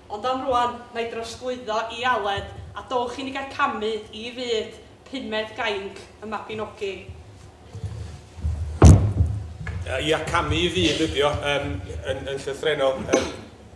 Ond am rŵan, na i drosglwyddo i Aled, a dowch i ni gael camu i fyd pumed gainc y Mabinogi. Ia, camu i fyd ydi o, yn, yn, yn llythrennol. Yym,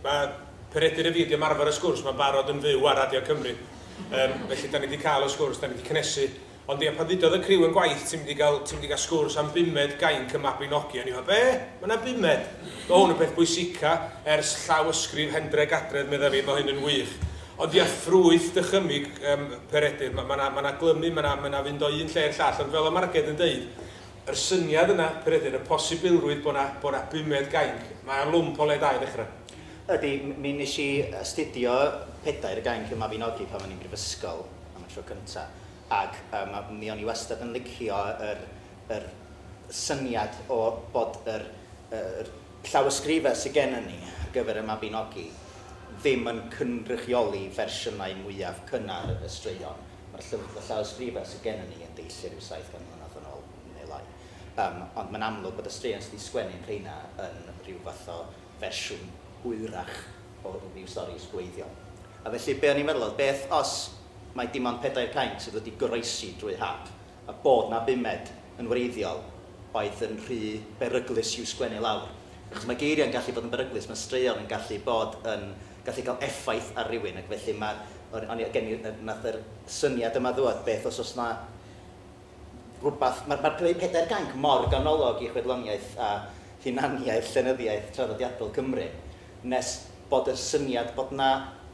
mae Peredur a fi wedi ymarfer y sgwrs 'ma'n barod yn fyw ar Radio Cymru. Yym, felly, 'dan ni wedi cael y sgwrs, 'dan ni wedi cynhesu. Ond ia, pan ddudodd y criw yn gwaith ti'n mynd i gael, ti'n mynd i gael sgwrs am bumed gainc y Mabinogi, o'n i fel, be? Mae yna bumed? Mae hwn yn peth bwysica ers llawysgrif Hendreg Adredd medda fi, mae hyn yn wych. Ond ia, ffrwyth dychymyg yym Peredur, mae yna ma yna glymu, mae yna ma yna fynd o un lle i'r llall, ond fel o Marged yn deud, yr syniad yna Peredur, y posibilrwydd bod yna bod yna bumed gainc, mae o'n lwmp o le da i ddechrau. Ydy, mi nes i astudio pedair gainc y Mabinogi pan o'n i'n brifysgol am y tro cynta. ac yym mi o'n i wastad yn licio yr yr syniad o bod yr yr llawysgrifau sy gennym ni ar gyfer y Mabinogi ddim yn cynrychioli fersiynau mwyaf cynnar y straeon. Mae'r llyf- y llawysgrifau sy gennym ni yn deillio rhyw 700 mlynedd yn ôl, neu lai. Yym, ond mae'n amlwg bod y straeon sy' 'di sgwennu'n rheina yn rhyw fath o fersiwn hwyrach o ryw stori ysgwreiddiol. A felly be' o'n i'n meddwl oedd, beth os mai dim ond pedair cainc sydd wedi goroesi drwy hap, a bod 'na bumed yn wreiddiol oedd yn rhy beryglus i'w sgwennu lawr. Achos mae geiriau'n gallu bod yn beryglus, mae straeon yn gallu bod yn... gallu cael effaith ar rywun, ac felly mae... o'n o'n i... gen i... wnaeth yr syniad yma ddŵad, beth os oes 'na rywbeth... mae'r mae'r creu pedair gainc mor ganolog i chwedloniaeth a hunaniaeth llenyddiaeth traddodiadol Cymru, nes bod y syniad bod 'na,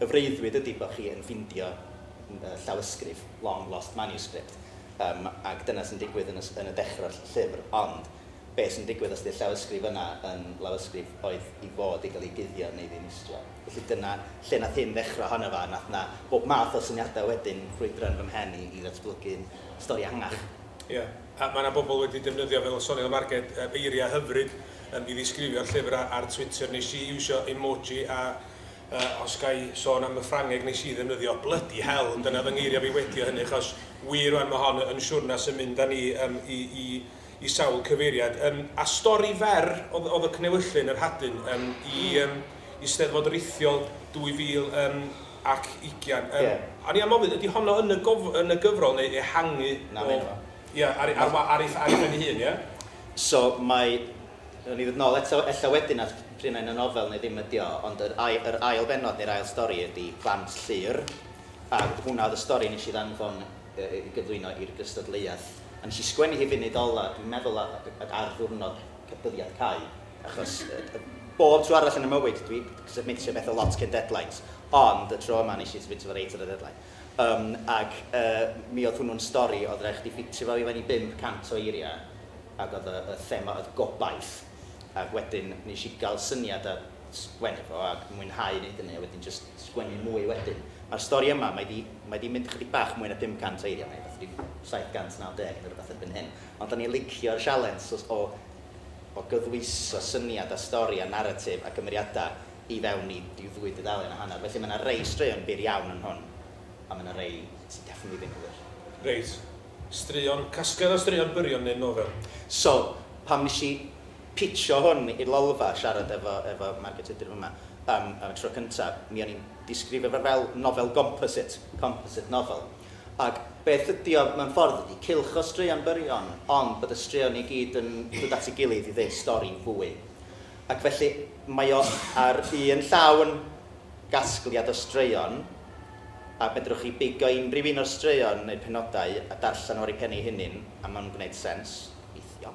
Y freuddwyd ydy bod chi yn ffindio llawysgrif, long lost manuscript, yym ac dyna sy'n digwydd yn y yn y dechrau'r llyfr, ond be sy'n digwydd os ydy'r llawysgrif yna yn lawysgrif oedd i fod i gael ei guddio neu ddinistrio? Felly dyna lle wnaeth hyn ddechrau ohono fo, wnaeth yna bob math o syniadau wedyn ffrwydro yn fy mhen i i ddatblygu'n stori ehangach. Ia, a mae yna bobl wedi defnyddio, fel y soniodd y Marged, yr eiriau hyfryd yym i ddisgrifio'r llyfr a- ar Twitter. Wnes i iwsio emoji a Yy os ga i sôn am y Ffrangeg nes i ddefnyddio, bloody hell, ond dyna fy ngeiriau fi wedi o hynny, achos wir rwan mae hon yn siwrna sy'n mynd â ni yym i i i sawl cyfeiriad. Yym a stori fer oedd oedd y Cnewyllyn, yr Hadyn, yym i yym i Steddfod Rithiol 2000 yym ac ugian. Yym Ie. o'n i am ofyn, ydy honno yn y gof- yn y gyfrol neu ehangu o... Na, ma' hyn yma. Ia, ar ei ar wa- ar ei ar ei phen ei hun, ia? So mae Nawn ni ddod nôl eto ella wedyn at pryd mae'n y nofel neu ddim ydi o, ond yr ai- yr ail bennod neu'r ail stori ydi Plant Llŷr, a hwnna oedd y stori nes i ddanfon yy i gyflwyno i'r gystadleuaeth, a nes i sgwennu hi funud ola, dwi'n meddwl a- a- ag ar ddiwrnod c- dyddiad cau, achos yy yy bob tro arall yn y mywyd dwi d- submitio betha lot cyn deadlines, ond y tro yma nes i submitio fo reit ar y deadline. Yym ac yy mi oedd hwnnw'n stori oedd raid chdi ffitio fo i fewn i 500 o eiriau, ac oedd y y thema oedd gobaith ac wedyn nes i gael syniad a sgwennu fo a mwynhau neud hynny a wedyn jyst sgwennu mwy wedyn. Ma'r stori yma, mae 'di mae 'di mynd chydig bach mwy na 500 eiriau, mae rwbath ryw 790 neu rwbath erbyn hyn, ond o'n i'n licio'r sialens o o o gydwyso syniad a stori a naratif a cymeriadau i fewn i ryw ddwy dudalen a hanner, felly mae 'na rei straeon byr iawn yn hwn a mae 'na rei sy definitely ddim yn wir. Reit. Straeon, casgliad o straeon byrion neu nofel? So, pan wnes i pitsio hwn i'r Lolfa, siarad efo, efo Margaret Tudur f'yma, am, am y tro cynta, mi o'n i'n disgrifio fo fel nofel gomposit, composite novel. Ac beth ydi o, mewn ffordd, ydi cylch o straeon byrion, ond bod y straeon i gyd yn dod at ei gilydd i ddeud stori fwy. Ac felly, mae o ar un llaw yn... gasgliad o straeon, a fedrwch chi bigo unrhyw un o'r straeon neu'r penodau a darllen o ar ei phen ei hunin, a mae'n gwneud sens, weithiau.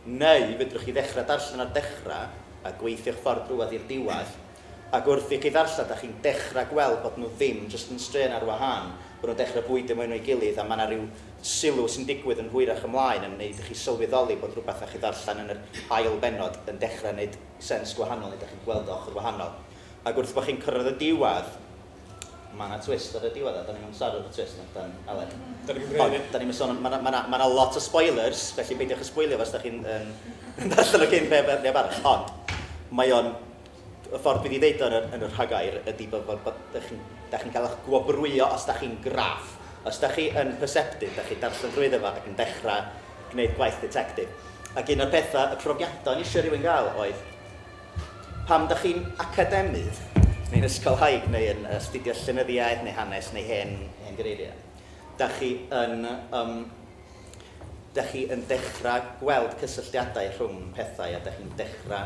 Neu fedrwch chi ddechrau darllen o'r dechrau a gweithio'ch ffordd drwodd i'r diwedd, ac wrth i chi ddarllen dach chi'n dechrau gweld bod nhw ddim jyst yn straeon ar wahân, bod nhw'n dechrau bwydo mwy na'i gilydd a mae 'na ryw sylw sy'n digwydd yn hwyrach ymlaen yn wneud i chi sylweddoli bod rhywbeth dach chi'n ddarllen yn yr ail bennod yn dechrau 'neud sens gwahanol neu dach chi'n gweld o ochr wahanol. Ac wrth bo chi'n cyrraedd y diwadd, ma' 'na twist ar y diwadd a 'dan ni'm yn amseru'r twist na 'dan, Aled? Da ni'm yn gwneud hynny. Ond 'dan ni'm yn sôn am, ma' 'na, ma' 'na, ma' 'na lot o spoilers, felly peidiwch â sbwylio fo os da chi'n yym yn darllen o cyn neb, neb arall. Ond mae o'n, y ffordd dwi 'di ddeud o yn yr, yn y rhagair ydi bod, bod, bod, da chi'n, da chi'n cael eich gwobrwyo os da chi'n graff. Os da chi yn perceptive, da chi'n darllen drwyddo fo ac yn dechrau gwneud gwaith detective. Ac un o'r petha, y profiadau o'n i isio rhywun gael oedd, Pam dach chi'n academydd neu'n ysgolhaig neu yn astudio llenyddiaeth neu hanes neu hen hen gereiriau? Dach chi yn yym dach chi yn dechra gweld cysylltiadau rhwng pethau a dach chi'n dechra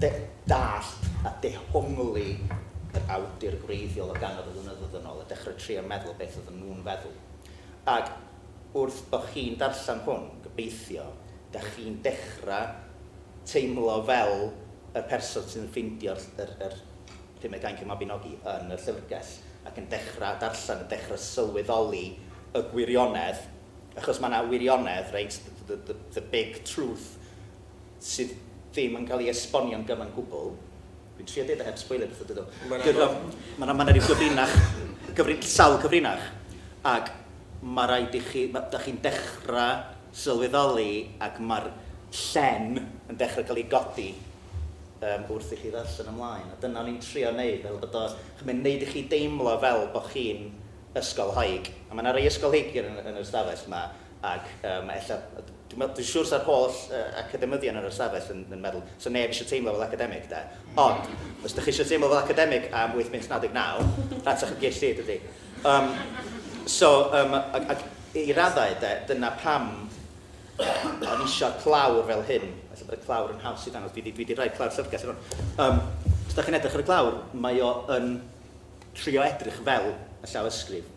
de- dallt a dehongli yr awdur gwreiddiol o gannoedd o flynyddoedd yn ôl a dechra trio meddwl beth oedden nhw'n feddwl. Ag wrth bo chi'n darllen hwn, gobeithio, dach chi'n dechra teimlo fel y person sy'n ffeindio yr yr Pumed Gainc y Mabinogi yn y llyfrgell ac yn dechra darllen, yn dechra sylweddoli y gwirionedd, achos ma' 'na wirionedd, reit, the the the big truth, sydd ddim yn cael ei esbonio'n gyfan gwbl. Dwi'n trio deud o heb sboilio pethau dydw. Mae'n anodd. Mae 'na ryw gyfrinach, sawl cyfrinach, ac mae rhaid i chi, dach chi'n dechrau sylweddoli ac mae'r llen yn dechrau cael ei godi wrth i chi ddarllen ymlaen. A dyna o'n i'n trio wneud, fel bod o, mae'n gwneud i chi deimlo fel bod chi'n ysgolhaig. A mae 'na rai ysgolheigion yn yr ystafell 'ma. Ac mae ella, dwi'n meddwl, dwi'n siwr sa'r holl academyddion ar yr ystafell yn yn meddwl, sa neb eisiau teimlo fel academig, de. Ond, os dych chi eisiau teimlo fel academig am 8 mis 99, rhatach y gyll hyd ydi. Um, so, um, ac, ac i raddau, de, dyna pam o'n eisiau clawr fel hyn. Felly bod y clawr yn haws i ddangos. Dwi wedi rhoi clawr llyfrgell ar hwn. Um, os da chi'n edrych ar y clawr, mae o yn trio edrych fel y llawysgrif.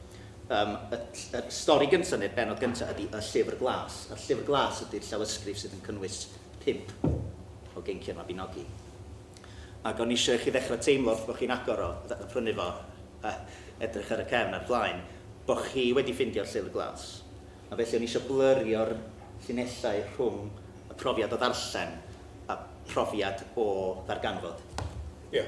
Yym, y ll- y stori gynta', neu'r bennod gynta', ydi Y Llyfr Glas. A'r Llyfr Glas ydi'r llawysgrif sydd yn cynnwys pump o geinciau'r Mabinogi. Ac o'n i isio i chi ddechrau teimlo wrth bo' chi'n agor o, fatha yn prynu fo, a edrych ar y cefn a'r blaen, bo' chi wedi ffeindio'r Llyfr Glas. A felly o'n i isio blyrio'r llinellau rhwng y profiad o ddarllen a profiad o ddarganfod. Ie.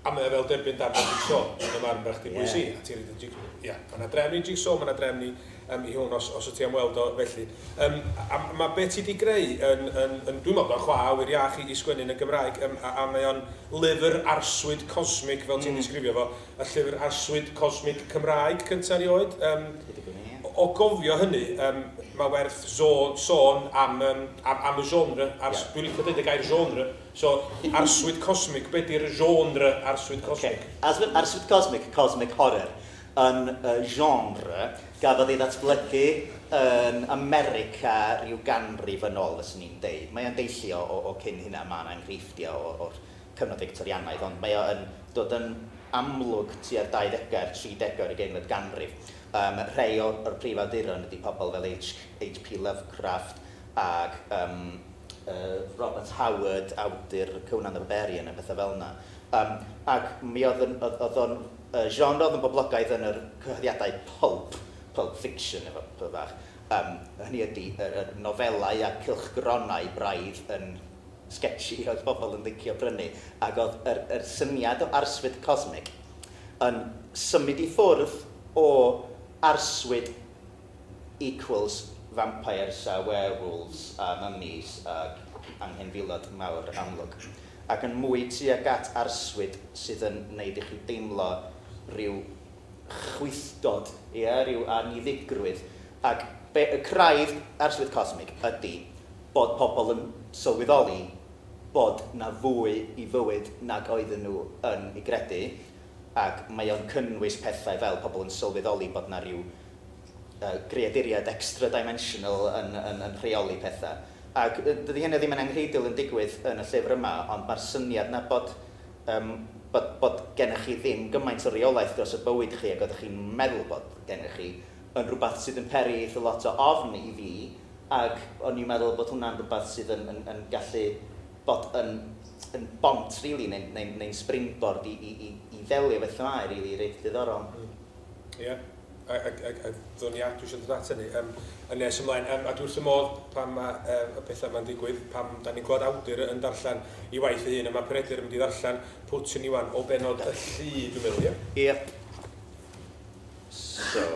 A mae o fel derbyn darn o jigsaw, yn fy marn bach di bwys i, a ti'n rhoi dy jig... Ie. Mae yna drefn i jigsaw, mae yna drefn i um, i hwn, os, os wyt ti am weld o felly. Um, a mae be ti di greu yn, yn, yn dwi'n meddwl bod o'n chwa awyr iach i, i sgwennu yn y Gymraeg, um, a, a mae o'n lyfr arswyd cosmig, fel ti'n mm. disgrifio fo, y llyfr arswyd cosmig Cymraeg cyntaf rioed. Um, o gofio hynny, um, mae werth sôn, sôn am, um, am, am y genre, ars, yeah. dwi'n licio dweud y gair genre, So, arswyd cosmig, be di'r genre arswyd cosmig? Ok, arswyd, arswyd cosmig, cosmic horror, yn y genre gafodd ei ddatblygu yn America ryw ganrif yn ol, fyswn i'n deud. Mae o'n deillio o, o cyn hynna, mae 'na enghreifftiau o, o'r cyfnod Fictorianaidd, ond mae o yn dod yn amlwg tua'r 20au a'r 30au o'r ugeinfed ganrif. Yym, rhei o'r, o'r prif awduron ydi pobl fel H. H. P. Lovecraft ac, yym, Robert Howard, awdur Conan the Barbarian a pethau fel yna. Um, ac mi oedd, yn, oedd, oedd o'n uh, genre oedd yn boblogaidd yn yr cyhoeddiadau pulp, pulp fiction efo pwy fach. Um, hynny ydy, yr, yr nofelau a cylchgronau braidd yn sketchy oedd pobl yn ddicio brynu, ac oedd yr, yr syniad o arswyd cosmig yn symud i ffwrdd o arswyd Equals vampires a werewolves a mummies ag anghenfilod mawr amlwg, ac yn mwy tuag at arswyd sydd yn wneud i chi deimlo rhyw chwythdod, ie, rhyw anniddigrwydd, ac be y craidd arswyd cosmig ydi bod pobl yn sylweddoli bod 'na fwy i fywyd nag oedden nhw yn ei gredu, Ac mae o'n cynnwys pethau fel pobl yn sylweddoli bod 'na ryw greaduriaid extra-dimensional yn rheoli pethau. Ac dydi hynna ddim yn anghreidiol yn digwydd yn y llyfr yma, ond mae'r syniad 'na bod bod gennych chi ddim gymaint o reolaeth dros y bywyd chi ag oeddech chi'n meddwl bod gennych chi yn rhywbeth sydd yn peri eitha lot o ofn i fi, ac o'n i'n meddwl bod hwnna'n rhywbeth sydd yn gallu bod yn yn bont rili neu'n neu'n neu'n springboard i i i i ddelio efo themâu rili reit ddiddorol. Mm. Ie. A a a a ddown ni at, dwi isio dod at hynny yym yn nes ymlaen yym a dwi wrth fy modd pan ma' yy y petha 'ma'n digwydd, pan 'dan ni'n clywed awdur yn darllen 'i waith ei hun a ma' Peredur yn mynd i ddarllen Putin Iwan o bennod y llu dwi'n meddwl, ie? Ie. So,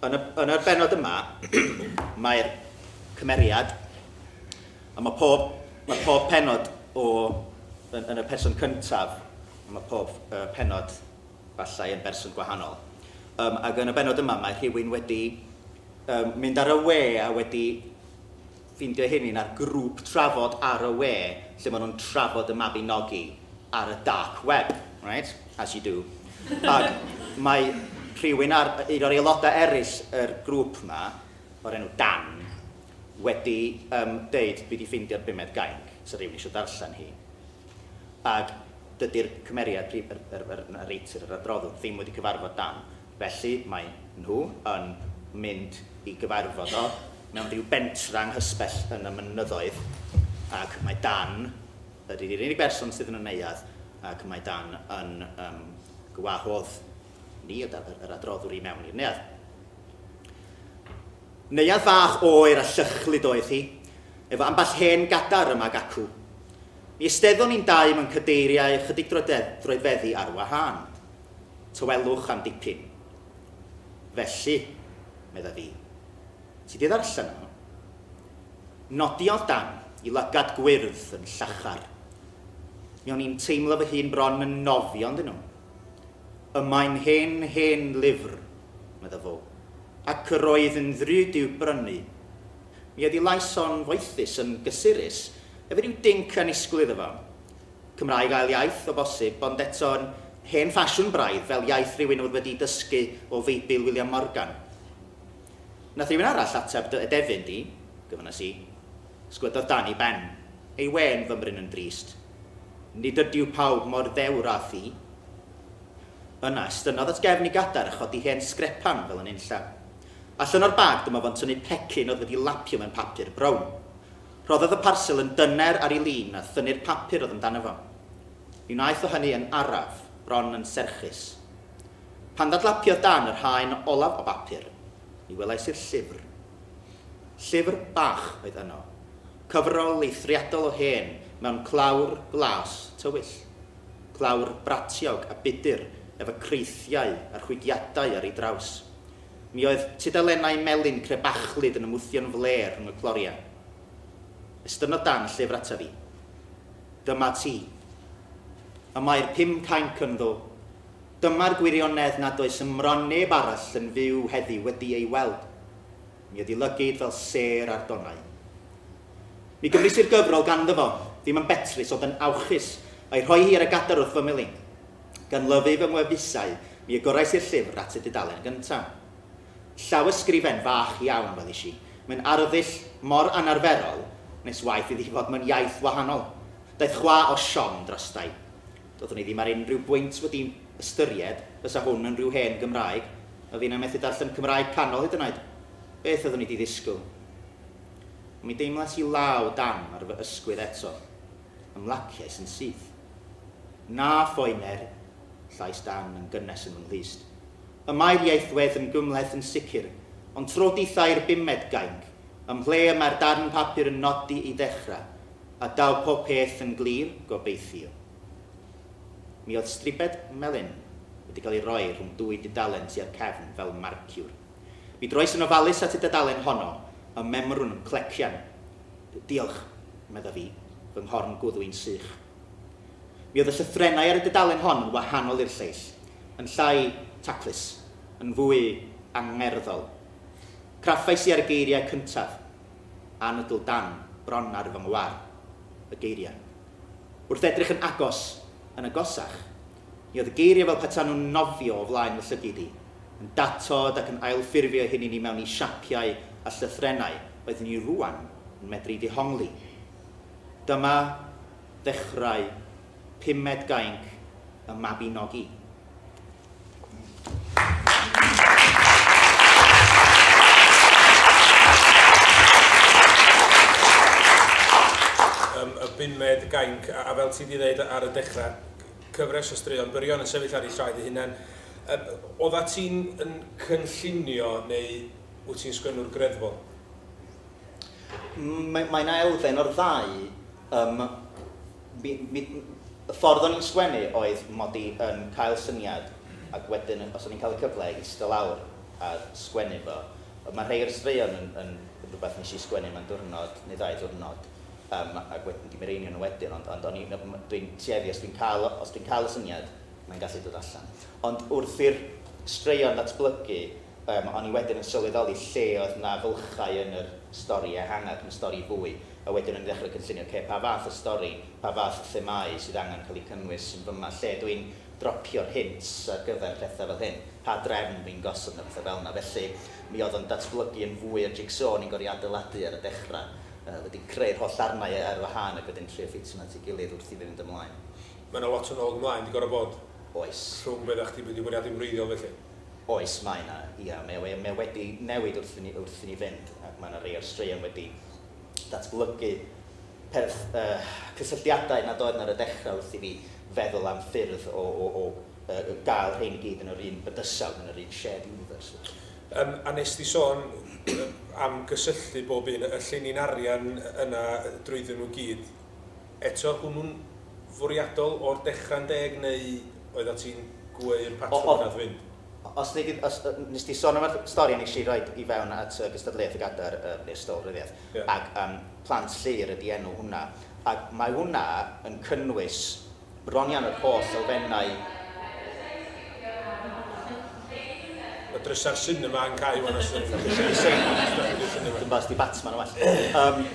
yn y yn y bennod yma mae'r cymeriad A mae pob, mae pob penod o, yn, yn y person cyntaf, a mae pob uh, penod falle yn berson gwahanol. Um, ac yn y benod yma mae rhywun wedi um, mynd ar y we a wedi ffeindio hyn yn ar grŵp trafod ar y we lle maen nhw'n trafod y Mabinogi ar y dark web, right? as you do. Ac mae rhywun ar, un o'r aelodau eraill yr grŵp yma o'r enw Dan wedi um, deud dwi di ffeindio'r bumed gainc sy'n rhywun eisiau darllen hi. Ac dydy'r cymeriad, yr, yr, yr, yr narrator, yr adroddwr, ddim wedi cyfarfod Dan. Felly mae nhw yn mynd i gyfarfod o mewn rhyw bentra nghysbell yn y mynyddoedd ac mae Dan ydy'r unig berson sydd yn y neuadd ac mae Dan yn um, gwahodd ni, yr adroddwr, i mewn i'r neuadd. Neuadd fach oer a llychlyd oedd hi, efo ambell hen gadar yma ac acw. Mi esteddon ni'n dau mewn cadeiriau ychydig droedfeddi ar wahân. Tawelwch am dipyn. Felly, medda fi, ti 'di ddarllen hwn? Nodiodd Dan, i lygad gwyrdd yn llachar. Mi o'n i'n teimlo fy hun bron yn nofio ynddyn nhw. Y mae'n hen, hen lyfr, medda fo, ac yr oedd yn ddrud i'w brynu. Mi oedd ei lais o'n foethus, yn gysurus, efo rhyw dinc annisgwyl iddo fo. Cymraeg ail iaith, o bosib, ond eto'n hen ffasiwn braidd, fel iaith rywun oedd wedi dysgu o Feibl William Morgan. Nath rywun arall ateb dy edefyn di, gyfynas i. Sgwyddodd Dani ben. Ei wên fymryn yn drist. Nid ydyw pawb mor ddewr â thi. Yna, estynnodd at gefn ei gadair a chodi hen sgrepan fel yn unllan. Allan o'r bag dyma fo'n tynnu pecyn oedd wedi lapio mewn papur brown. Rhoddodd y parsel yn dyner ar ei lin a thynnu'r papur oedd amdano fo. Mi wnaeth o hynny yn araf, bron yn serchus. Pan ddadlapiodd dan yr haen olaf o bapur, ni welais i'r llyfr. Llyfr bach oedd yno, Cyfrol eithriadol o hen mewn clawr glas tywyll. Clawr bratiog a budur efo creithiau a rhwygiadau ar ei draws. Mi oedd tudalennau melyn crebachlyd yn ymwthio'n flêr rhwng y clorian. Estynnodd Dan y llyfr ata fi. Dyma ti. Y mae'r pum cainc ynddo. Dyma'r gwirionedd nad oes ym mron neb arall yn fyw heddiw wedi ei weld. Mi ydi lygid fel sêr ar donau. Mi gymrys i'r gyfrol ganddo fo, ddim yn betrus ond yn awchus, a'i rhoi hi ar y gadar wrth fy melin. Gan lyfu fy ngwefusau, mi agorais i'r llyfr at y dudalen gynta. Llawysgrifen fach iawn, welish i, mewn arddull mor anarferol, nes waeth iddi fod mewn iaith wahanol. Daeth chwa o siom drostai. Doeddwn i ddim ar unrhyw bwynt wedi ystyried fysa hwn yn rhyw hen Gymraeg, a finna methu darllen Cymraeg canol hyd yn oed! Beth oeddwn i di ddisgwyl? Ond mi deimlais i law dam ar fy ysgwydd eto. Ymlaciais yn syth. Na phoener! llais Dan yn gynnes yn fy nghlust. Y mae'r ieithwedd yn gymhleth yn sicr, ond tro dithau i'r bumed gainc, ym mhle y mae'r darn papur yn nodi i ddechrau, A daw pob peth yn glir, gobeithio. Mi oedd stribed melyn wedi cael ei roi rhwng dwy dudalen tua'r cefn fel marciwr. Mi droes yn ofalus at y dudalen honno, y memrwn yn clecian. Diolch, medda fi, fy nghorn gwddwi'n sych. Mi oedd y llythrennau ar y dudalen hon yn wahanol i'r lleill, yn llai taclus, yn fwy angerddol. Craffais i ar y geiriau cyntaf. anadl dan bron ar fy ngwar, y geiriau. Wrth edrych yn agos, yn agosach, mi oedd y geiriau fel petai nhw'n nofio o flaen fy llygid i, yn datod ac yn ailffurfio'u hunin i mewn i siapiau a llythrennau oeddwn i rŵan yn medru'u dehongli. Dyma ddechrau pumed gainc y Mabinogi. Um, y bunmed gainc, a, a fel ti wedi dweud ar y dechrau, cyfres o straeon byrion yn sefyll ar ei llaed ei hunain. Um, oedda ti'n yn cynllunio neu wyt ti'n sgwennwr greddfol? Mae'n aelfen o'r ddau. Um, Mi, mi, y ffordd o'n i'n sgwennu oedd mod i yn cael syniad ac wedyn os o'n i'n cael y cyfle i ista lawr a sgwennu fo. Mae rhai o'r straeon yn, yn, yn rhywbeth nes i sgwennu mewn diwrnod neu ddau diwrnod um, ac wedyn di mireinio nhw wedyn, ond, ond o'n i, dwi'n tueddu os dwi'n cael, os dwi'n cael y syniad mae'n gallu dod allan. Ond wrth i'r straeon ddatblygu Yym, o'n i wedyn yn sylweddoli lle oedd 'na fylchau yn yr stori ehangach, yn y stori fwy, a wedyn o'n i'n ddechrau cynllunio, ocê, pa fath o stori, pa fath o themâu sydd angen cael eu cynnwys yn fyma, lle dw i'n dropio'r hints ar gyfer pethau fel hyn, pa drefn dw i'n gosod mewn pethau fel 'na. Felly, mi oedd o'n datblygu yn fwy o'r jig-so o'n i'n gorfod ei adeiladu ar y dechrau, yy wedyn creu'r holl ddarnau ar wahân ac wedyn trio ffitio nhw at ei gilydd wrth i fi fynd ymlaen. Mae 'na lot o nôl-ymlaen 'di gorfod bod. Oes. Rhwng be' oeddach chdi'n mynd i fwriadu'n wreiddiol felly? Oes, mae 'na, ia, mae o, mae o wedi newid wrth i ni, wrth i ni fynd, ac mae 'na rei o'r straeon wedi datblygu perth, yy, cysylltiadau nad oedd 'na ar y dechrau wrth i fi feddwl am ffyrdd o, o, o, yy, gael rhein i gyd yn yr un bydysawd, yn yr un shared universe, felly. Yym, a wnest ti sôn am gysylltu bob un, y llinyn arian yna drwyddyn nhw i gyd, Eto, hwnnw'n fwriadol o'r dechrau'n deg neu oeddat ti'n gweu'r patrwm yn Nad Wyn? Os nei di, os nes di son am y stori nes i roid i fewn at y gystadleuaeth y gadar yym neu'r stol ryddiaith Ie. ac yym Plant Llŷr ydi enw hwnna ac mae hwnna yn cynnwys bron iawn yr holl elfennau Mae drysau'r sinema yn cau wan os dach chi'n gallu seinio os dach chi'n gallu seinio wan. Dwi'm 'bo os 'di Batman yn well. Yym.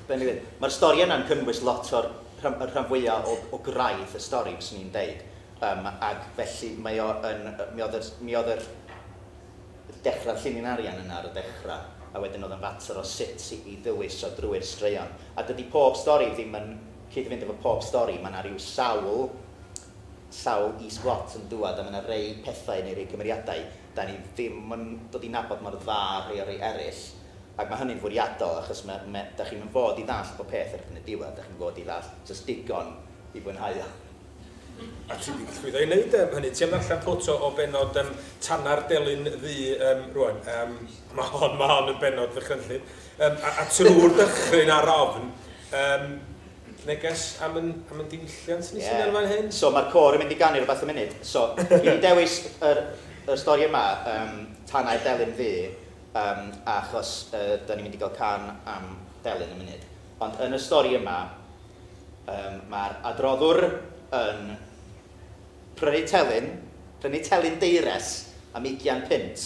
Be'n dweud? Mae'r stori yna'n cynnwys lot o'r rhan, y rhan fwyaf o, o graidd y stori, fyswn i'n deud. Um, ac felly mae o yn, mi oedd yr, mi oedd yr dechrau llinyn arian yna ar y dechrau, a wedyn oedd yn fater o sut i, i ddewiso drwy'r straeon. A dydy pob stori ddim yn cyd-fynd efo pob stori, mae yna rhyw sawl, sawl is-blot yn dŵad, a mae yna rei pethau neu rei cymeriadau, da ni ddim yn dod i nabod mor dda rhai o rei eraill, Ac mae hynny'n fwriadol achos ma', ma', dach chi'm yn fod i ddallt bob peth erbyn y diwedd, dach chi'm yn fod i ddallt jyst digon i fwynhau o. A ti 'di llwyddo i neud yym hynny. Ti am ddarllen ffwtso o bennod yym Tana'r Delyn Ddu yym rŵan? Yym ma' hon, ma' hon yn bennod ddychrynllyd. Yym a a trw'r dychryn a'r ofn yym neges am yn am yn diwylliant ni sydd yn fan hyn. Ie. So ma'r côr yn mynd i ganu rwbath y munud. So dwi 'di dewis yr y stori yma yym Tanau'r Delyn Ddu Yym, achos yy 'dan ni'n mynd i gael cân am delyn yn munud. Ond yn y stori yma, yym, mae'r adroddwr yn prynu telyn, prynu telyn deires am ugian punt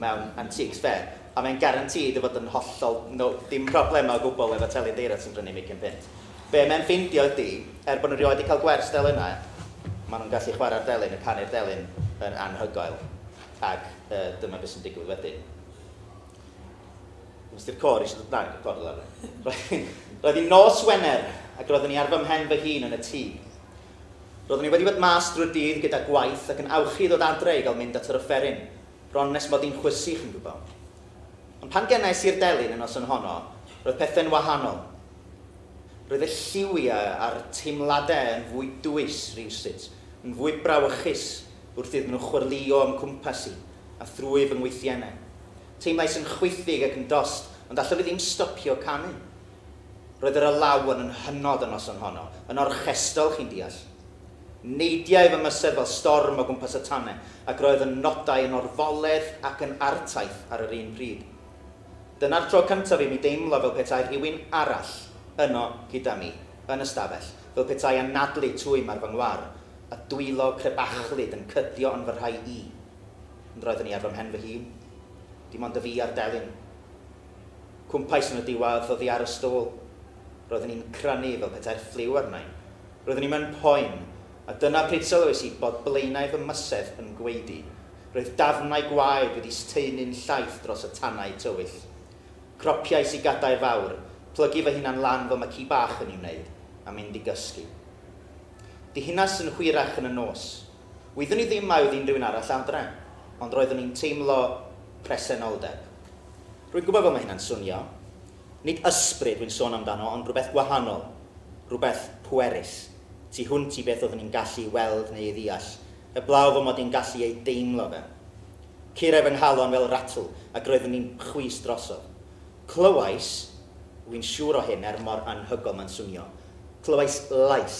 mewn antiques fair, a mae'n guaranteed o fod yn hollol no, dim problemau o gwbl efo telyn deires sy'n prynu am ugian punt. Be mae'n ffeindio ydi, er bod nhw rioed 'di cael gwers delynau, maen nhw'n gallu chwarae'r delyn, y canu'r delyn yn anhygoel. Ac dyma beth sy'n digwydd wedyn. Nes ti'r côr eisiau dod mlaen, y côr lawr. Roedd hi'n nos Wener, ac roeddwn i ar fy mhen fy hun yn y tŷ. Roeddwn i wedi bod mas drwy'r dydd gyda gwaith ac yn awchu i ddod adre i gael mynd at yr offeryn, bron nes mod i'n chwysu, chi'n gwybod. Ond pan genais i'r delyn y noson honno, roedd pethau'n wahanol. Roedd y lliwiau a'r teimladau yn fwy dwys rywsut, yn fwy brawychus, wrth iddyn nhw chwyrlïo o'm cwmpas i a thrwy fy ngwythiennau. Teimlais yn chwithig ac yn dost, ond allaf i ddim stopio canu. Roedd yr alawon yn hynod y noson honno, yn orchestral, chi'n deall. Neidiai fy mysedd fel storm o gwmpas y tanau, ac roedd fy nodau yn orfoledd ac yn artaith ar yr un pryd. Dyna'r tro cyntaf i mi deimlo fel petai rhywun arall yno gyda mi, yn y stafell, fel petai anadlu twym ar fy ngwar, a dwylo crebachlyd yn cydio yn fy rhai i. Ond roeddwn i ar fy mhen fy hun. Dim ond y fi a'r delyn. Cwmpais yn y diwadd oddi ar y stôl. Roeddwn i'n crynu fel petai'r ffliw arna i. Roeddwn i mewn poen, a dyna pryd sylwais i bod blaenau fy mysedd yn gwaedu. Roedd dafnau gwaed wedi staenu'n llaith dros y tanau tywyll. Cropiais i gadair fawr, plygu fy hunan lan fel mae ci bach yn ei wneud, a mynd i gysgu. Ddihunas yn hwyrach yn y nos. Wyddwn i ddim mai oedd unrhyw un arall adre, ond roeddwn i'n teimlo presenoldeb. Rwy'n gwybod fel mae hynna'n swnio. Nid ysbryd wy'n sôn amdano ond rhywbeth gwahanol, rhywbeth pwerus, tu hwnt i beth oeddwn i'n gallu weld neu ei ddeall, heblaw fy mod i'n gallu ei deimlo fe. Curai fy nghalon fel ratl ac roeddwn i'n chwys drosodd. Clywais, wi'n siŵr o hyn er mor anhygoel mae'n swnio, clywais lais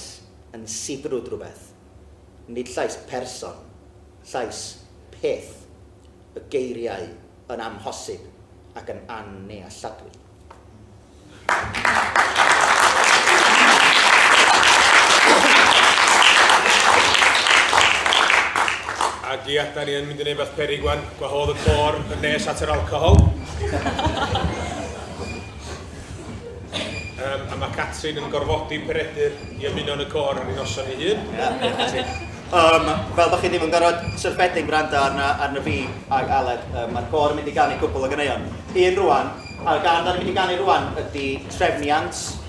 yn sibrwd rhywbeth. Nid llais person, llais peth. Y geiriau yn amhosib ac yn annealladwy. Ag ia, 'da ni yn mynd i wneud rhywbeth peryg 'wan. Gwahodd y côr yn nes at yr alcohol. um, a mae Catrin yn gorfodi Peredur i ymuno yn y côr ar ei noson ei hun. Um, fel bod chi ddim yn gorfod syrffedig gwrando arna, arna fi ag Aled, um, mae'r côr yn mynd i ganu cwbl o ganeuon. Un rwan, a gan dan ni'n mynd i ganu rwan ydy Trefniant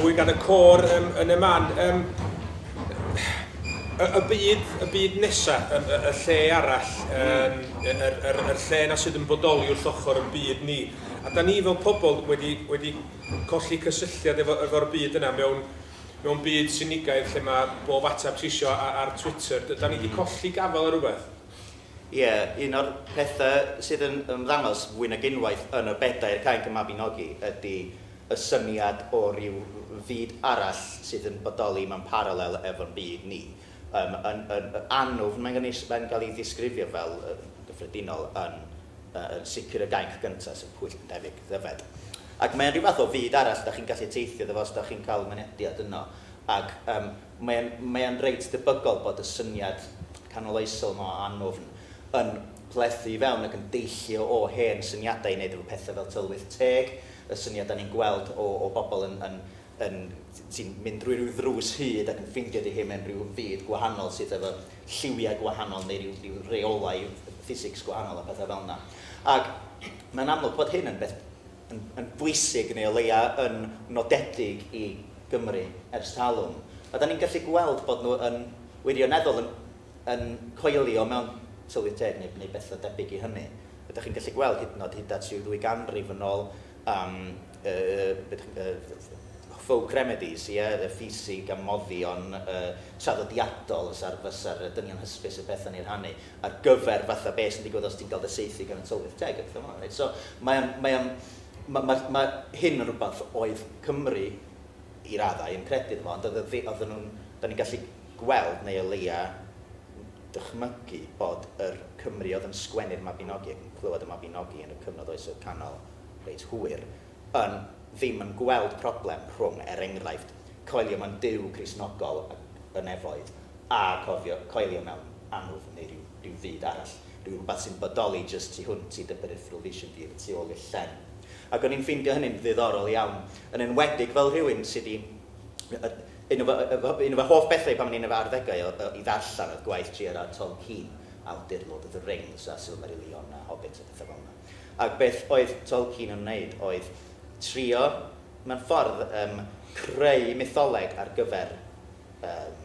mwy gan y côr um, yn y man. Um, y, y, byd, y byd nesaf, y, y, y lle arall, um, y, y, y, y lle na sydd yn bodoli wrth ochr yn byd ni. A da ni fel pobl wedi, wedi colli cysylltiad efo efo'r byd yna mewn mewn byd sinigaidd lle ma' bob ateb ti isio a- ar Twitter. D- 'dan ni 'di colli gafel ar rwbeth? Ie, un o'r pethe sydd yn ymddangos fwy nag unwaith yn y bedair cainc y Mabinogi ydi y syniad o ryw fyd arall sydd yn bodoli mewn paralel efo'n byd ni. Yym, yn, yn, yn annwfn, mae'n gynnu, mae'n cael ei ddisgrifio fel, yn gyffredinol, yn, yy, yn sicr y gainc gyntaf, sef pwyll yn debyg, ddyfed. Ac mae'n rhyw fath o fyd arall, dach chi'n gallu teithio iddo fo os dach chi'n cael mynediad yno. Ac, yym, mae'n, mae'n reit debygol bod y syniad canoloesol yma o annwfn yn plethu i fewn ac yn deillio o hen syniadau i wneud efo pethau fel tylwyth teg, y syniad dan ni'n gweld o, o bobl yn, yn, yn ti'n mynd drwy rhyw ddrws hud ac yn ffeindio dy hun mewn rhyw fyd gwahanol sydd efo lliwiau gwahanol neu rhyw, rhyw reolau ffisics gwahanol a pethau fel yna. Ac mae'n amlwg bod hyn yn beth yn, yn bwysig neu o leia yn nodedig i Gymru ers talwm. A da ni'n gallu gweld bod nhw yn wirioneddol yn, yn coelio mewn tylwyth teg neu, neu bethau debyg i hynny. Ydych chi'n gallu gweld hyd yn oed hyd at rhyw ddwy ganrif yn ôl am folk remedies, ie, y ffisig a moddion traddodiadol fysa'r dynion hysbys yn perthyn i rhannu, ar gyfer fatha be sy'n digwydd os ti'n cael dy saethu gan y tylwyth teg a pethau fel 'na, reit. So mae o'n, mae o'n, ma' ma' ma' hyn yn rhywbeth oedd Cymru, i raddau, yn credu ynddo fo, ond oedd y ddi- oedden nhw'n, 'dan ni'n gallu gweld, neu o leia', dychmygu bod yr Cymry oedd yn sgwennu'r Mabinogi ac yn clywed y Mabinogi yn y cyfnod Oesoedd Canol reit hwyr yn ddim yn gweld problem rhwng, er enghraifft, coelio mewn Duw Cristnogol y nefoedd a cofio coelio mewn annwfn neu rhyw rhyw fyd arall, rhyw rywbeth sy'n bodoli jyst tu hwnt i dy peripheral vision di y tu ôl i'r llen. Ac o'n i'n ffeindio hynny'n ddiddorol iawn, yn enwedig fel rhywun sy' 'di Un o fy hoff bethau pan o'n i'n fy arddegau oedd i ddarllen oedd gwaith J.R.R. Tolkien, awdur Lord of the Rings a Silmarillion a Hobbit a pethau fel 'na. Ac beth oedd Tolkien yn wneud oedd trio, mewn ffordd, yym creu mytholeg ar gyfer yym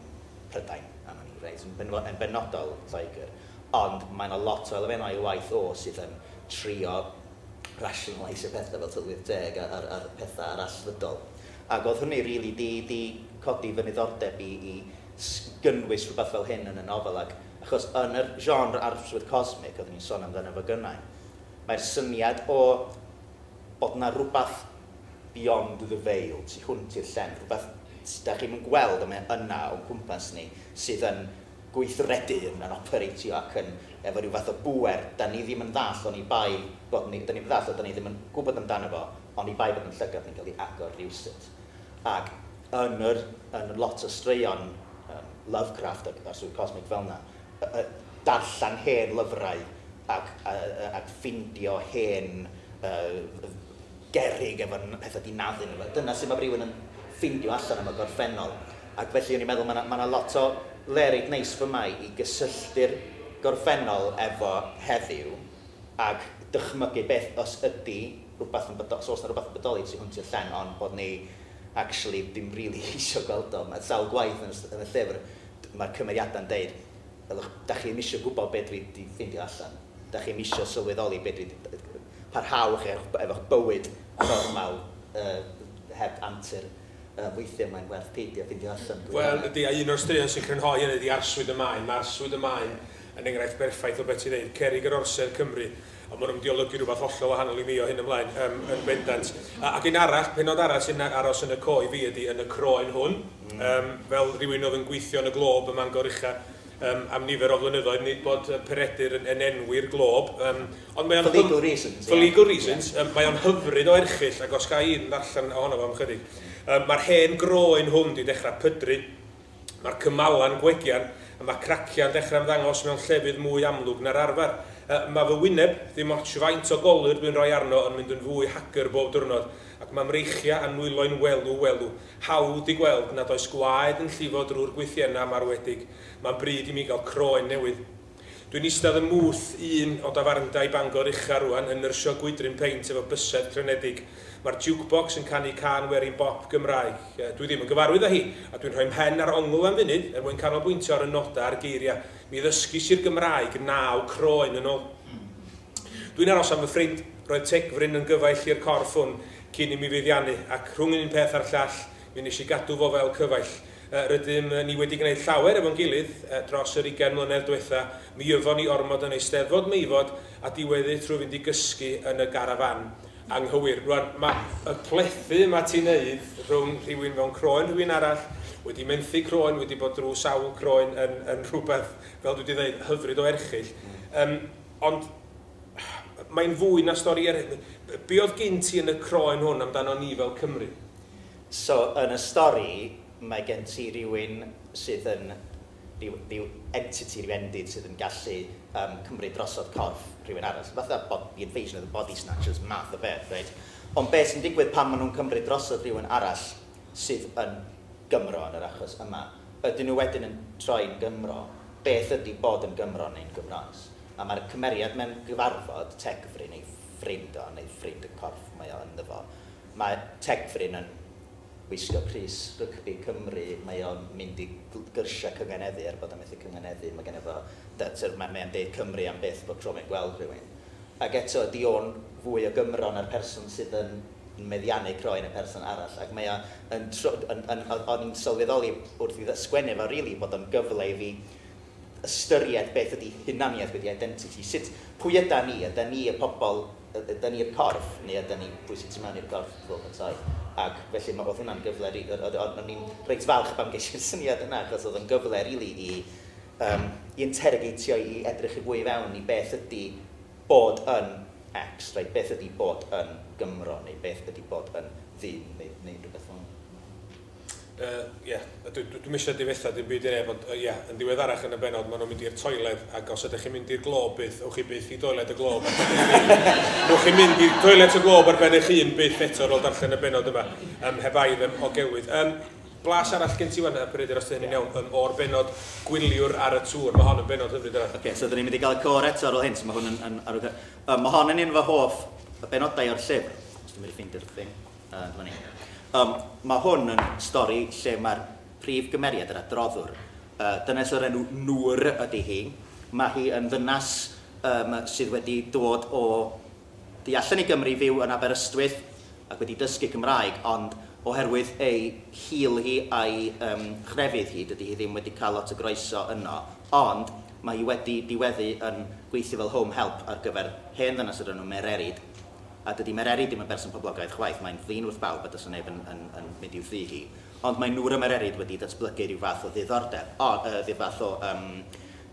Prydain, am wn i, reit, yn benodol Lloegr. Ond mae 'na lot o elfennau o'i waith o sydd yn trio rationaleisio pethau fel tylwyth teg a'r pethau arallfydol. Ac oedd hynny rili 'di 'di codi fy niddordeb i i s- gynnwys rhywbeth fel hyn yn y nofel ac achos yn yr genre arswyd cosmig oeddwn i'n sôn amdano fo gynnau mae'r syniad o bod 'na rywbeth beyond the veil, tu hwnt i'r llen, rhywbeth 'da chi'm yn gweld ond mae o yna o'n cwmpas ni sydd yn gweithredu yn yn opereitio ac yn efo rhyw fath o bŵer 'da ni ddim yn ddall oni bai bod ni, 'da ni'm yn ddall a 'da ni ddim yn gwybod amdano fo oni bai bod yn llygad ni'n cael ei agor rywsut. Ac yn yr, yn lot o straeon yym Lovecraft ac a'r swydd cosmig fel 'na, y y darllen hen lyfrau ac a a ac ffindio hen yy gerrig efo n- petha di naddu ynddo fo. Dyna sut ma' rywun yn ffeindio allan am y gorffennol. Ac felly o'n i'n meddwl ma' na ma' na lot o le reit neis fy' ma' i gysylltu'r gorffennol efo heddiw ag dychmygu beth os ydi rwbath yn bodo- os o's na rwbath yn bodoli tu hwnt i'r llen on' bod ni actually dim rili isio gweld o. Ma' sawl gwaith yn y st- yn y llyfr d- ma'r cymeriada'n deud ylwch 'dach chi 'im isio gwbo be' dwi 'di ffeindio allan. 'Dach chi 'im isio sylweddoli be' dwi 'di d- yy parhau chi efo'ch efo'ch bywyd normal yy heb antur yy weithie mae'n werth peidio ffindio allan pwy arall. Wel ydi a un o'r straeon sy'n crynhoi hynny ydi Arswyd y Maen, ma' Arswyd y Maen yn enghraifft berffaith o be' ti'n ddeud, cerrig yr orsedd Cymru ond ma' nhw'n diolygu rhywbeth hollol wahanol i mi o hyn ymlaen yym yn bendant. A ac un arall pennod arall sy'n a- aros yn y co i fi ydi yn y croen hwn yym fel rhywun oedd yn gweithio yn y Globe ym Mangor ucha am nifer o flynyddoedd, nid bod Peredur yn enwi'r glob, ond mae o'n... For legal reasons. For legal reasons. Mae o'n hyfryd o erchyll, ac os ga i un ddarllen ohono fo am ychydig. Mae'r hen groen hwn di dechrau pydru, mae'r cymalan gwegian, a mae craciau'n dechrau ymddangos mewn llefydd mwy amlwg na'r arfer. Mae fy wyneb, dim otsh faint o golur dwi'n rhoi arno, yn mynd yn fwy hagr bob diwrnod, ac mae mreichiau a nwyloi'n welw, welw. Hawdd i gweld nad oes gwaed yn llifo drwy'r gwythiennau marwedig. Mae'n bryd i mi gael croen newydd. Dwi'n eistedd ym mwth un o dafarndai Bangor ucha rŵan yn nyrsio gwydryn peint efo bysedd crynedig. Mae'r jukebox yn canu cân werin bop Gymraeg. Dwi ddim yn gyfarwydd â hi, a dwi'n rhoi 'mhen ar ongl am funud er mwyn canolbwyntio ar y nodau a'r geiriau. Mi ddysgis i'r Gymraeg naw croen yn ôl. Dwi'n aros am fy ffrind. Roedd tec fryn yn gyfaill i'r corff hwn cyn i mi feddiannu, ac rhwng un peth a'r llall, mi wnes i gadw fo fel cyfaill. Rydym ni wedi gwneud llawer efo'n gilydd dros yr ugain mlynedd dwetha. Mi yfon ni ormod yn Eisteddfod Meifod a diweddu trwy fynd i gysgu yn y garafan anghywir. Rwan, mae y plethu yma ti'n neud rhwng rhywun mewn croen rhywun arall, wedi menthu croen, wedi bod drwy sawl croen yn yn rhywbeth, fel dwi 'di ddeud, hyfryd o erchyll. Yym. Ond mae'n fwy na stori eraill. Be oedd gin ti yn y croen hwn amdano ni fel Cymry? So, yn y stori, mae gen ti rywun sydd yn, ryw, ryw entity, ryw endid sydd yn gallu um, cymryd drosodd corff rhywun arall. Fath o bod, the invasion of the body snatchers, math o beth, reit? Ond beth sy'n digwydd pan maen nhw'n cymryd drosodd rhywun arall? sydd yn Gymro yn yr achos yma, ydyn nhw wedyn yn troi'n Gymro, beth ydy bod yn Gymro neu'n Gymroes? A mae'r cymeriad mewn cyfarfod, Tegfryn, ei ffrind o, neu ffrind y corff mae o ynddo fo, mae Tegfryn yn gwisgo crys rygbi Cymru, mae o'n mynd i gyrsiau cynganeddu, er bod o'n methu cynganeddu, mae genna fo, mae o'n deud Cymru am byth bob tro mae'n gweld rhywun. Ac eto, ydy o'n fwy o Gymro na'r person sydd yn yn meddiannu croen y person arall ac mae o yn tr- yn yn o- o'n i'n sylweddoli wrth i ddy- sgwennu fo rili bod o'n gyfle i fi ystyried beth ydi hunaniaeth wedi identity sut pwy yda ni yda ni y pobol y- yda ni'r corff neu yda ni pwy sy'n tu mewn i'r corff fel petai ac felly ma' o'dd hwnna'n gyfle ri- o- o- o'n i'n reit falch pan gesh i'r syniad yna achos o'dd o'n gyfle rili i yym i interrogatio i edrych i fwy i fewn i beth ydi Bod yn X, reit, beth ydi bod yn Gymro, neu beth ydi bod yn ddim, neu, neu rhywbeth fel 'ny? Yy, ie. Dw- dwi'm isio difetha dim byd i neb, ond, yy, ie, yn ddiweddarach yn y bennod, ma' nhw'n mynd i'r toiled, ac os ydych chi'n mynd i'r Glob byth, ewch chi byth i doiled y Glob ar ben eich hun. Ewch chi mynd i toilet y Glob ar ben eich hun byth eto ar ôl darllen y bennod yma. Yym, heb aidd, yym, o gelwydd. Yym. Blas arall gen ti ŵan yy Peredur os dwi hynny'n iawn yym o'r bennod gwyliwr ar y tŵr, ma' hon yn bennod hyfryd arall. Ocê so 'dyn ni'n mynd i ga'l y côr eto ar ôl hyn so ma' hwn yn yn arwydd da. Yym ma' hon yn un o fy hoff yy benodau o'r llyfr, os dwi'n medru ffeindio'r thing, yy dyma ni. Yym ma' hwn yn stori lle ma'r prif gymeriad, yr adroddwr, yy dynes o'r enw Noor ydi hi, ma' hi yn ddynas yym sydd wedi dod o Tu allan i Gymru fyw yn Aberystwyth ac wedi dysgu Cymraeg ond oherwydd ei hil hi a'i yym chrefydd hi dydi hi ddim wedi cael lot o groeso yno ond mae hi wedi diweddu yn gweithio fel home help ar gyfer hen ddynas o'r enw Mererid a dydi Mererid ddim yn berson poblogaidd chwaith mae'n ddyn wrth bawb a does 'na neb yn yn yn mynd i'w thŷ hi ond mae Nŵr a Mererid wedi datblygu rhyw fath o ddiddordeb o yy rhyw fath o yym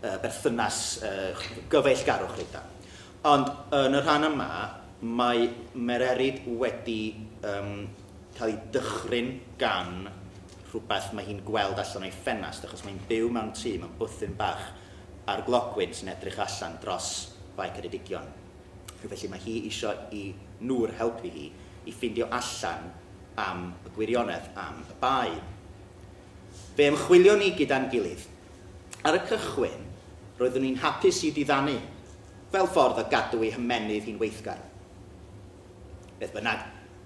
yy berthynas yy gyfeillgarwch rhyw fath Ond yn y rhan yma, mae Mererid wedi yym cael ei dychryn gan rhywbeth mae hi'n gweld allan o'i ffenast, achos mae hi'n byw mewn tŷ, mewn bwthyn bach ar glogwyn sy'n edrych allan dros Fae Ceredigion. Felly mae hi isio i Noor helpu hi i ffindio allan am y gwirionedd am y Bae. Fe ymchwilion ni gyda'n gilydd Ar y cychwyn, roeddwn i'n hapus i ddiddanu, fel ffordd o gadw ei hymennydd hi'n weithgar. Beth bynnag,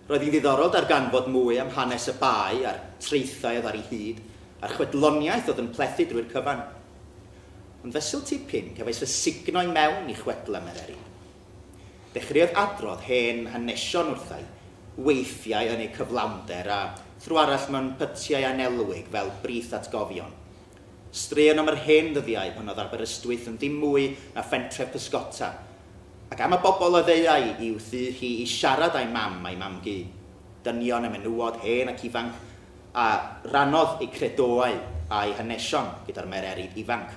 roedd hi'n ddiddorol darganfod mwy am hanes y bae a'r traethau oedd ar ei hyd, a'r chwedloniaeth oedd yn plethu drwy'r cyfan. Ond fesul tipyn, cefais fy sugno i mewn i chwedlau Mereri. Dechreuodd adrodd hen hanesion wrthai, weithiau yn ei cyflawnder, a thro arall mewn pytiau annelwig fel brith atgofion. Straeon am yr hen ddyddiau pan oedd Aberystwyth yn ddim mwy na phentre pysgota, ac am y bobl a ddeuai i'w thŷ hi i siarad â'i mam a'i mam-gu, dynion a menywod hen ac ifanc, a rannodd eu credoau a'u hanesion gyda'r mererid ifanc.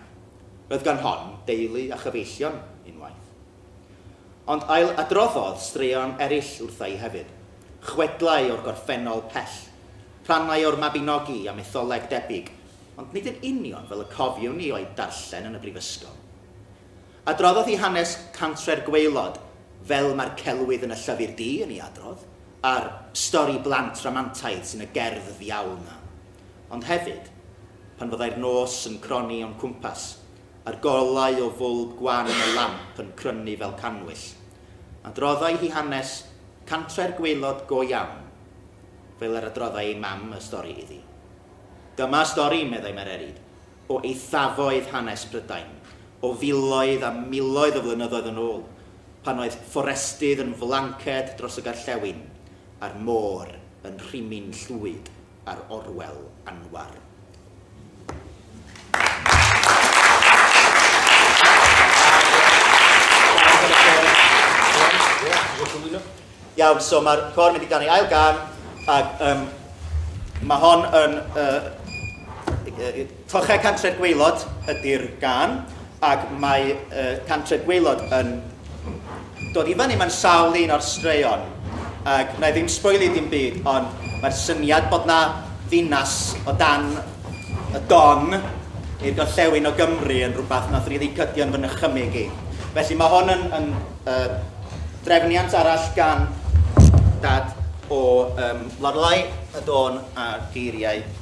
Roedd gan hon deulu a chyfeillion unwaith. Ond ail-adroddodd straeon eraill wrtha i hefyd, chwedlau o'r gorffennol pell, rhannau o'r Mabinogi a mytholeg debyg, ond nid yn union fel y cofiwn ni o'u darllen yn y brifysgol. Adroddodd hi hanes cantre'r gwaelod, fel mae'r celwydd yn y Llyfr Du yn ei adrodd, a'r stori blant rhamantaidd sy'n y gerdd ddiawl 'na. Ond hefyd, pan fyddai'r nos yn cronni o'n cwmpas, a'r golau o fwlb gwan y lamp yn crynu fel cannwyll. Adroddai hi hanes cantre'r gwaelod go iawn, fel yr adroddai ei mam y stori iddi. Dyma stori, meddai Mererid, o eithafoedd hanes Prydain, o filoedd a miloedd o flynyddoedd yn ôl, pan oedd fforestydd yn flanced dros y Gorllewin, a'r môr yn rhimyn llwyd ar Orwel Anwar. Iawn, so mae'r cor yn mynd i ganu ail gan, ac um, mae hon yn... Uh, Toche Cantref Gwaelod ydy'r gân, ac mae yy Cantref Gwaelod yn dod i fyny mewn sawl un o'r straeon, ac wna i ddim sboilio dim byd, ond mae'r syniad bod 'na ddinas o dan y don i'r gorllewin o Gymru yn rhywbeth wnaethon ni ddicydio yn fy nychymyg i. Felly mae hwn yn, yn uh, drefniant arall gan dad o um, Lorelai, y dôn a'r geiriau.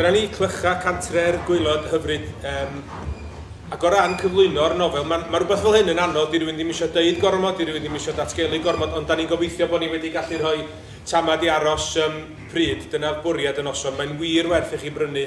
Dyna ni, clycha cantre'r gwaelod hyfryd. Um, ac o ran cyflwyno'r nofel, mae ma rhywbeth fel hyn yn anodd, di rhywun ddim eisiau deud gormod, di rhywun ddim eisiau datgelu gormod, ond da ni'n gobeithio bod ni wedi gallu rhoi Tamad i aros ym mhryd, dyna oedd bwriad y noson. Mae'n wir werth i chi brynu,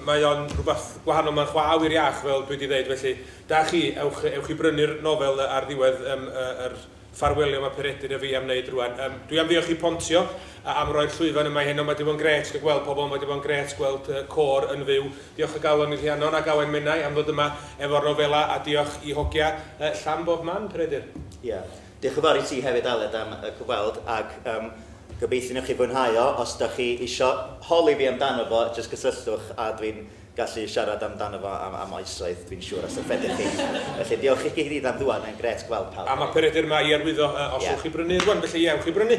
mae o'n rhywbeth gwahanol, mae'n chwa awyr iach fel dwi 'di ddeud, felly da chi, ewch, ewch i brynu'r nofel ar ddiwedd yym yr ffarwelio mae Peredur a fi am wneud rŵan. Yym, dwi am ddiolch i Pontio am roi'r llwyfan yma i heno, mae 'di bod yn grêt cael gweld pobl, mae 'di bod yn grêt gweld y côr yn fyw. Diolch o galon i Rhiannon ac Awen Menai am ddod yma efo'r nofelau a diolch i hogia Llan bob man, Peredur. Ie, Diolch yn fawr i ti hefyd Aled am y cyfweld ac yym gobeithio newch chi fwynhau o, os dach chi isio holi fi amdano fo jyst cysylltwch a dwi'n gallu siarad amdano fo am am oesoedd dwi'n siŵr os yw chi. Felly diolch i chi gyd am ddŵad mae'n grêt gweld pawb. A ma Peredur ma i arwyddo yy os ewch i brynu rwan felly ie ewch i brynu.